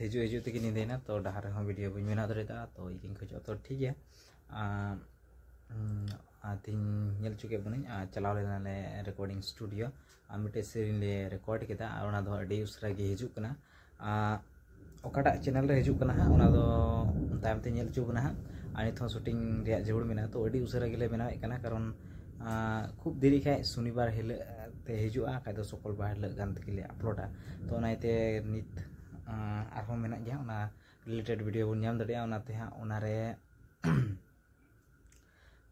ᱦᱤᱡᱩᱜ ᱦᱤᱡᱩᱜ ᱛᱮᱜᱮ ᱧᱤᱫᱟᱹᱭᱮᱱᱟ ᱛᱚ ᱰᱟᱦᱟᱨ ᱨᱮᱦᱚᱸ ᱵᱷᱤᱰᱤᱭᱳ ᱵᱟᱹᱧ ᱵᱮᱱᱟᱣ ᱫᱟᱲᱮᱭᱟᱫᱟ ᱛᱚ ᱤᱧ ᱠᱷᱚᱡᱚᱜᱼᱟ ᱛᱚ ᱴᱷᱤᱠ ᱜᱮᱭᱟ ᱟᱨ ᱛᱤᱦᱤᱧ ᱧᱮᱞ ᱦᱚᱪᱚ ᱠᱮᱫ ᱵᱚᱱᱟᱹᱧ ᱟᱨ ᱪᱟᱞᱟᱣ ᱞᱮᱱᱟᱞᱮ ᱨᱮᱠᱚᱨᱰᱤᱝ ᱥᱴᱩᱰᱤᱭᱳ ᱟᱨ ᱢᱤᱫᱴᱮᱡ ᱥᱮᱨᱮᱧ ᱞᱮ ᱨᱮᱠᱚᱨᱰ ᱠᱮᱫᱟ ᱟᱨ ᱚᱱᱟ ᱫᱚ ᱟᱹᱰᱤ ᱩᱥᱟᱹᱨᱟ ᱜᱮ ᱦᱤᱡᱩᱜ ᱠᱟᱱᱟ ᱚᱠᱟᱴᱟᱜ ᱪᱮᱱᱮᱞ ᱨᱮ ᱦᱤᱡᱩᱜ ᱠᱟᱱᱟ ᱦᱟᱸᱜ ᱚᱱᱟ ᱫᱚ ᱛᱟᱭᱚᱢ ᱛᱮ ᱧᱮᱞ ᱦᱚᱪᱚ ᱵᱚᱱᱟ ᱦᱟᱸᱜ ᱟᱨ ᱱᱤᱛ ᱦᱚᱸ ᱥᱩᱴᱤᱝ ᱨᱮᱭᱟᱜ ᱡᱟᱹᱨᱩᱲ ᱢᱮᱱᱟᱜᱼᱟ ᱛᱚ ᱟᱹᱰᱤ ᱩᱥᱟᱹᱨᱟ ᱜᱮᱞᱮ ᱵᱮᱱᱟᱣᱮᱫ ᱠᱟᱱᱟ ᱠᱟᱨᱚᱱ ᱠᱷᱩᱵ ᱫᱮᱨᱤ ᱠᱷᱟᱡ ᱥᱚᱱᱤᱵᱟᱨ ᱦᱤᱞᱳᱜ ᱛᱮ ᱦᱤᱡᱩᱜᱼᱟ ᱠᱷᱟᱡ ᱫᱚ ᱥᱩᱠᱚᱞᱵᱟᱨ ᱦᱤᱞᱳᱜ ᱜᱟᱱ ᱛᱮᱜᱮᱞᱮ ᱟᱯᱞᱳᱰᱟ ᱛᱚ ᱚᱱᱟ ᱤᱭᱟᱹᱛᱮ ᱱᱤᱛ ᱟᱨᱦᱚᱸ ᱢᱮᱱᱟᱜ ᱜᱮᱭᱟ ᱚᱱᱟ ᱨᱤᱞᱮᱴᱮᱰ ᱵᱷᱤᱰᱤᱭᱳ ᱵᱚᱱ ᱧᱟᱢ ᱫᱟᱲᱮᱭᱟᱜᱼᱟ ᱚᱱᱟᱛᱮ ᱦᱟᱸᱜ ᱚᱱᱟᱨᱮ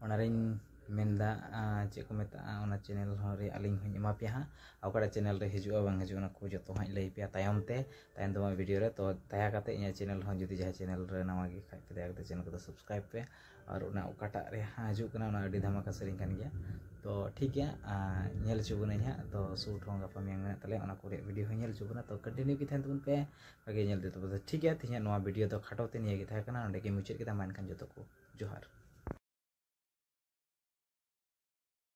ᱚᱱᱟᱨᱤᱧ ᱢᱮᱱᱫᱟ ᱪᱮᱫ ᱠᱚ ᱢᱮᱛᱟᱜᱼᱟ ᱚᱱᱟ ᱪᱮᱱᱮᱞ ᱦᱚᱸ ᱨᱮ ᱟᱹᱞᱤᱧ ᱦᱚᱸᱧ ᱮᱢᱟ ᱯᱮᱭᱟ ᱦᱟᱸᱜ ᱚᱠᱟᱴᱟᱜ ᱪᱮᱱᱮᱞ ᱨᱮ ᱦᱤᱡᱩᱜᱼᱟ ᱵᱟᱝ ᱦᱤᱡᱩᱜᱼᱟ ᱚᱱᱟ ᱠᱚ ᱡᱚᱛᱚ ᱦᱟᱸᱜ ᱞᱟᱹᱭ ᱯᱮᱭᱟ ᱛᱟᱭᱚᱢ ᱛᱮ ᱛᱟᱭᱚᱢ ᱫᱟᱨᱟᱢ ᱵᱷᱤᱰᱤᱭᱳ ᱨᱮ ᱛᱚ ᱫᱟᱭᱟ ᱠᱟᱛᱮ ᱤᱧᱟᱹᱜ ᱪᱮᱱᱮᱞ ᱦᱚᱸ ᱡᱩᱫᱤ ᱡᱟᱦᱟᱸᱭ ᱪᱮᱱᱮᱞ ᱨᱮ ᱱᱟᱣᱟ ᱜᱮ ᱠᱷᱟᱡ ᱯᱮ ᱫᱟᱭᱟ ᱠᱟᱛᱮ ᱪᱮᱱᱮᱞ ᱠᱚᱫᱚ ᱥᱟᱵᱥᱠᱨᱟᱭᱤᱵᱽ ᱯᱮ ᱟᱨ ᱚᱱᱟ ᱚᱠᱟᱴᱟᱜ ᱨᱮ ᱦᱤᱡᱩᱜ ᱠᱟᱱᱟ ᱚᱱᱟ ᱟᱹᱰᱤ ᱫᱷᱟᱢᱟᱠᱟ ᱥᱮᱨᱮᱧ ᱠᱟᱱ ᱜᱮᱭᱟ ᱛᱚ ᱴᱷᱤᱠ ᱜᱮᱭᱟ ᱧᱮᱞ ᱦᱚᱪᱚ ᱵᱚᱱᱟᱹᱧ ᱦᱟᱸᱜ ᱛᱚ ᱥᱩᱴ ᱦᱚᱸ ᱜᱟᱯᱟ ᱢᱮᱭᱟᱝ ᱢᱮᱱᱟᱜ ᱛᱟᱞᱮᱭᱟ ᱚᱱᱟ ᱠᱚᱨᱮ ᱵᱷᱤᱰᱤᱭᱳ ᱦᱚᱸ ᱧᱮᱞ ᱦᱚᱪᱚ ᱵᱚᱱᱟ ᱛᱚ ᱠᱚᱱᱴᱤᱱᱤᱭᱩ ᱜᱮ ᱛᱟᱦᱮᱱ ᱛᱟᱵᱚᱱ ᱯᱮ ᱵᱷᱟᱜᱮ ᱧᱮᱞ ᱛᱮ ᱛᱚᱵᱮ ᱴᱷᱤᱠ ᱜᱮᱭᱟ ᱛᱮᱦᱮᱧᱟᱜ ᱱᱚᱣᱟ ᱵᱷᱤᱰᱤᱭᱳ ᱫᱚ ᱠᱷᱟᱴᱚ ᱛᱮ ᱱᱤᱭᱟᱹ ᱜᱮ ᱛᱟᱦᱮᱸ ᱠᱟᱱᱟ ᱱᱚᱸᱰᱮ ᱜᱮ ᱢᱩᱪᱟᱹᱫ ᱠᱮᱫᱟ ᱢᱟ ᱮᱱᱠᱷᱟᱱ ᱡᱚᱛᱚ ᱠᱚ ᱡᱚᱦᱟᱨ